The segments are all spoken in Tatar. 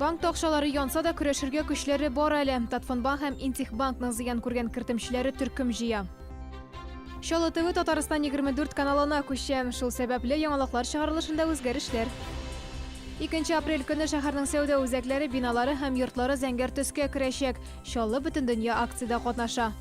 Банкта акчалары янса да көрәшергә көчләре бар әле. Татфонбанк һәм Интехбанкның зыян күргән кертемчеләре төркем җыя. Чаллы ТВ Татарстан 24 каналына күчә. Шул сәбәпле яңалыклар чыгарылышында үзгәрешләр. 2 апрель көне шәһәрнең сәүдә үзәкләре, биналары һәм йортлары зәңгәр төскә керәчәк. Чаллы бөтендөнья акциядә катнаша.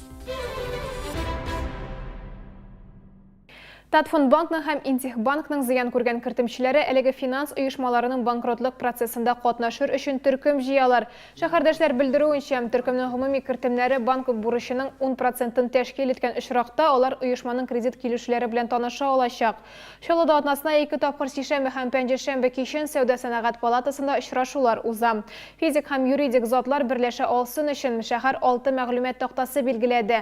Татфондбанкның һәм Интехбанкның зыян күргән кертемчеләре әлеге финанс оешмаларының банкротлык процессында катнашыр өчен төркем җыялар. Шәһәрдәшләр белдерүенчә, төркемнең гомуми кертемнәре банк бурычының ун процентын тәшкил иткән очракта, алар оешманың кредит килешүләре белән таныша алачак. Чаллыда атнасына ике тапкыр сишәмбе һәм пәнҗешәмбе кичен Сәүдә-сәнәгать палатасында очрашулар уза. Физик һәм юридик затлар берләшә алсын өчен, шәһәр алты мәгълүмат тактасы билгеләде.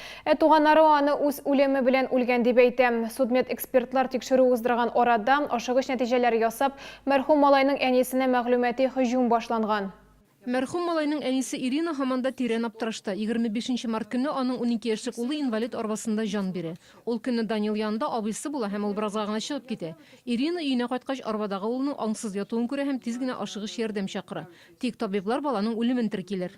Ә туганнары аны үз үлеме белән үлгән дип әйтә. Судмедэкспертлар тикшерү уздырган арада, ашыгыч нәтиҗәләр ясап, мәрхүм малайның әнисенә мәгълүмати һөҗүм башланган. Мәрхүм малайның әнисе Ирина һаман да тирән аптырашта. Егерме бишенче март көнне аның унике яшьлек улы инвалид арбасында җан бирә. Ул көнне Данил янында абыйсы була һәм ул беразга гына чыгып китә. Ирина өенә кайткач, арбадагы улының аңсыз ятуын күрә һәм тиз генә ашыгыч ярдәм чакыра. Тик табиблар баланың үлемен теркиләр.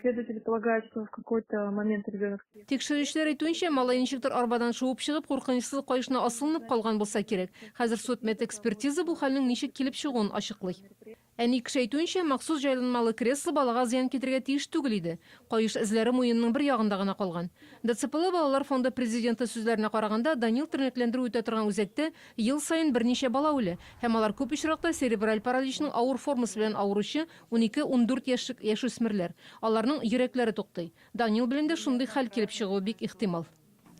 Следователи полагают, что в какой-то момент ребенок съел. Тикшерүчеләр әйтүенчә, малай ничектер арбадан шуып чыгып, куркынычсыз каешына асылынып калган булса кирәк. Хәзер судмедэкспертиза бу хәлнең ничек килеп чыгуын ачыклый. Әни кеше әйтүенчә, махсус җайланмалы кресло балага зыян китерергә тиеш түгел иде. Каеш эзләре муенның бер ягында гына калган. ДЦПлы балалар фонды президенты сүзләренә караганда, Данил тернәкләндерү үтә торган үзәктә ел саен берничә бала үлә, һәм алар күп очракта церебраль параличның авыр формасы белән авыручы Унике-ундүрт яшьлек яшүсмерләр. Аларның йөрәкләре туктый. Данил белән дә шундый хәл килеп чыгуы бик ихтимал.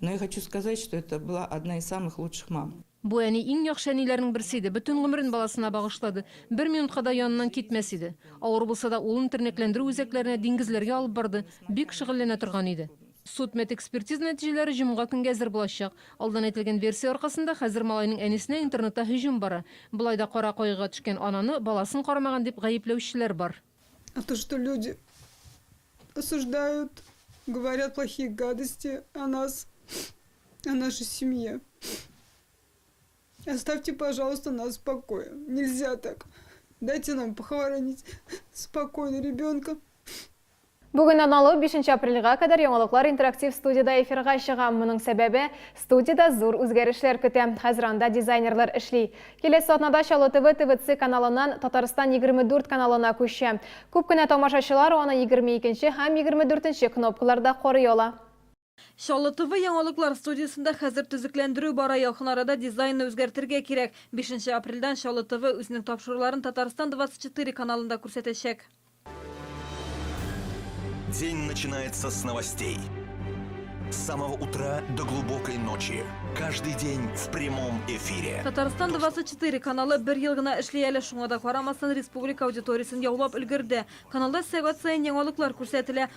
Но я хочу сказать, что это была одна из самых лучших мам. Бу әни иң яхшы әниләрнең берсе иде, бөтен гомерен баласына багышлады, бер минутка да яныннан китмәс иде. Авыр булса да, улын тернәкләндерү үзәкләренә, диңгезләргә алып барды, бик шөгыльләнә торган иде. Судмедэкспертиза нәтиҗәләре җомга көнгә әзер булачак. Алдан әйтелгән версия аркасында, хәзер малайның әнисенә интернетта һөҗүм бара. Болай да кара кайгыга төшкән ананы баласын карамаган дип гаепләүчеләр бар. А то что люди осуждают, говорят плохие гадости о нас, о нашей семье. Оставьте, пожалуйста, нас в покое. Нельзя так. Дайте нам похоронить спокойно ребенка. Бүгеннән алып бишенче апрельгә кадәр яңалыклар интерактив студиядә эфирга чыга. Моның сәбәбе, студиядә зур үзгәрешләр көтә. Хәзер анда дизайнерлар эшли. Киләсе атнада Чаллы ТВ ТВЦ каналыннан Татарстан 24 каналына күчә. Күп кенә тамашачылар аны егерме икенче һәм егерме дүртенче кнопкаларда карый ала. Чаллы ТВ яңалыклар студиясендә хәзер төзекләндерү бара, якын арада дизайнны үзгәртергә кирәк. Бишенче апрельдән Чаллы ТВ үзенең тапшыруларын Татарстан 24 каналында күрсәтәчәк. День начинается с новостей. С самого утра до глубокой ночи. Каждый день в прямом эфире. Татарстан 24 каналы бер ел гына эшли әле, шуңа да карамастан республика аудиториясен яулап өлгерде. Каналда сәгать саен яңалыклар күрсәтелә.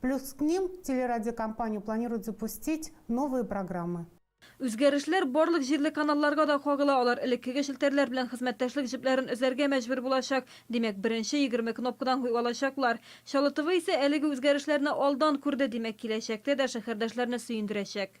Плюс к ним телерадиокомпанию планирует запустить новые программы. Үзгәрешләр барлык җирле каналларга да кагыла, алар элеккеге челтәрләр белән хезмәттәшлек җепләрен өзәргә мәҗбүр булачак. Димәк, беренче егерме кнопкадан хуй алачаклар. Чаллы ТВ исә әлеге үзгәрешләрне алдан күрде, димәк, киләчәктә дә шәһәрдәшләрне сөендерәчәк.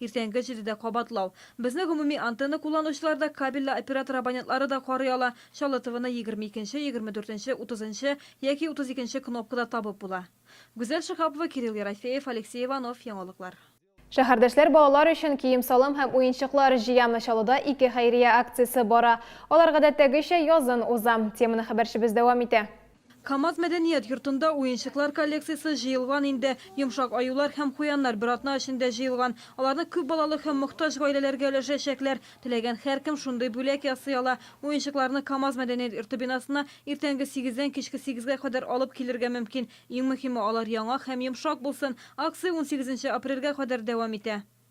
Иртәнге җидедә кабатлау. Безне гомуми антенна кулланучылар да, кабельле оператор абонентлары да карый ала. Чаллытовыны егерме икенче, егерме дүртенче, утызынчы яки утыз икенче кнопкада табып була. Гүзәл Шиһапова, Кирилл Ерофеев, Алексей Иванов, Яңалыклар. Шәһәрдәшләр балалар өчен кием-салым һәм уенчыклар җыямы Чаллыда ике хәйрия акциясе бара. Алар гадәттәгечә язын уза. Теманы хәбәрчебез дәвам итә. Камаз мәдәният йортында уенчыклар коллекциясе җыелган инде. Йомшак аюлар һәм куяннар бер атна эчендә җыелган. Аларны күп балалы һәм мохтаҗ гаиләләргә өләшәчәкләр. Теләгән һәркем шундый бүләк ясый ала. Уенчыкларны Камаз мәдәният йорты бинасына иртәнге сигездән кичке сигезгә кадәр алып килергә мөмкин. Иң мөһиме, алар яңа һәм йомшак булсын. Акция унсигезенче апрельгә кадәр дәвам итә.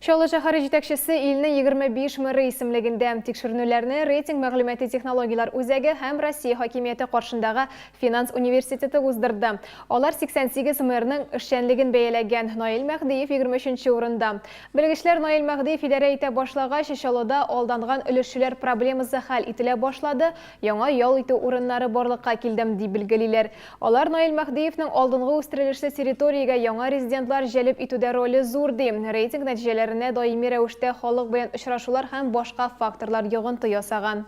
Чаллы шәһәре җитәкчесе илнең 25 мэры исемлегендә. Тикшеренүләрне рейтинг мәгълүмати технологияләр үзәге һәм Россия хакимияте каршындагы финанс университеты уздырды. Алар 88 мэрның эшчәнлеген бәяләгән. Наил Мәһдиев 23 урында. Белгечләр Наил Мәһдиев идарә итә башлагач, Чаллыда алданган өлешчеләр проблемасы хәл ителә башлады, яңа ял итү урыннары барлыкка килде, дип билгелиләр. Алар Наил Мәһдиевнең алдынгы үстерелешле территориягә яңа резидентлар җәлеп итүдә роле зур, ди. Рейтинг нәтиҗәләренә даими рәвештә халык белән очрашулар һәм башка факторлар йогынты ясаган.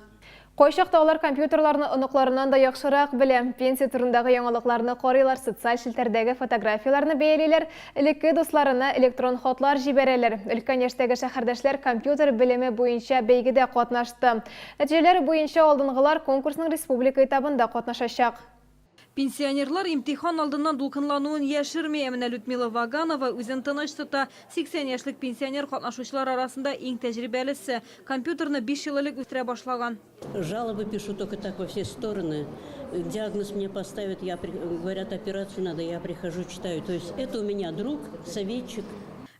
Кайчакта алар компьютерларны оныкларыннан да яхшырак белә. Пенсия турындагы яңалыкларны карыйлар, социаль челтәрдәге фотографияләрне бәялиләр, элекке дусларына электрон хатлар җибәрәләр. Өлкән яшьтәге шәһәрдәшләр компьютер белеме буенча бәйгедә катнашты. Нәтиҗәләр буенча алдынгылар конкурсның республика этабында катнашачак. Пенсионерлар имтихан алдыннан дулкынлануын яшерми. Ә менә Людмила Ваганова үзен тыныч тота. 80 яшьлек пенсионер катнашучылар арасында иң тәҗрибәлесе. Компьютерны биш ел элек үстерә башлаган. Жалобы пишу только так во все стороны. Диагноз мне поставят, я при, говорят, операцию надо, я прихожу, читаю. То есть это у меня друг, советчик.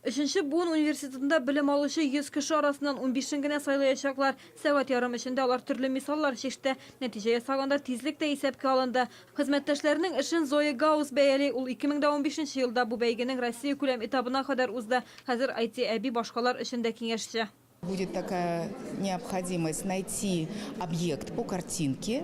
Өченче буын университетында белем алучы 100 кеше арасыннан унбишен генә сайлаячаклар. Сәгать ярым эчендә алар төрле мисаллар чиште. Нәтиҗә ясаганда тизлек тә исәпкә алынды. Хезмәттәшләренең эшен Зоя Гаус бәяли. Ул 2015 елда бу бәйгенең россиякүләм этабына кадәр узды. Хәзер IT-әби башкалар өчен дә киңәшче. Будет такая необходимость найти объект по картинке.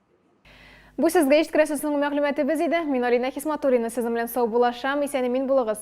Бу сезгә ишеткерәсе соңгы мәгълүматыбыз иде. Мин Алинә Хисматуллина сезнең белән саубуллашам. Исән-имин булыгыз.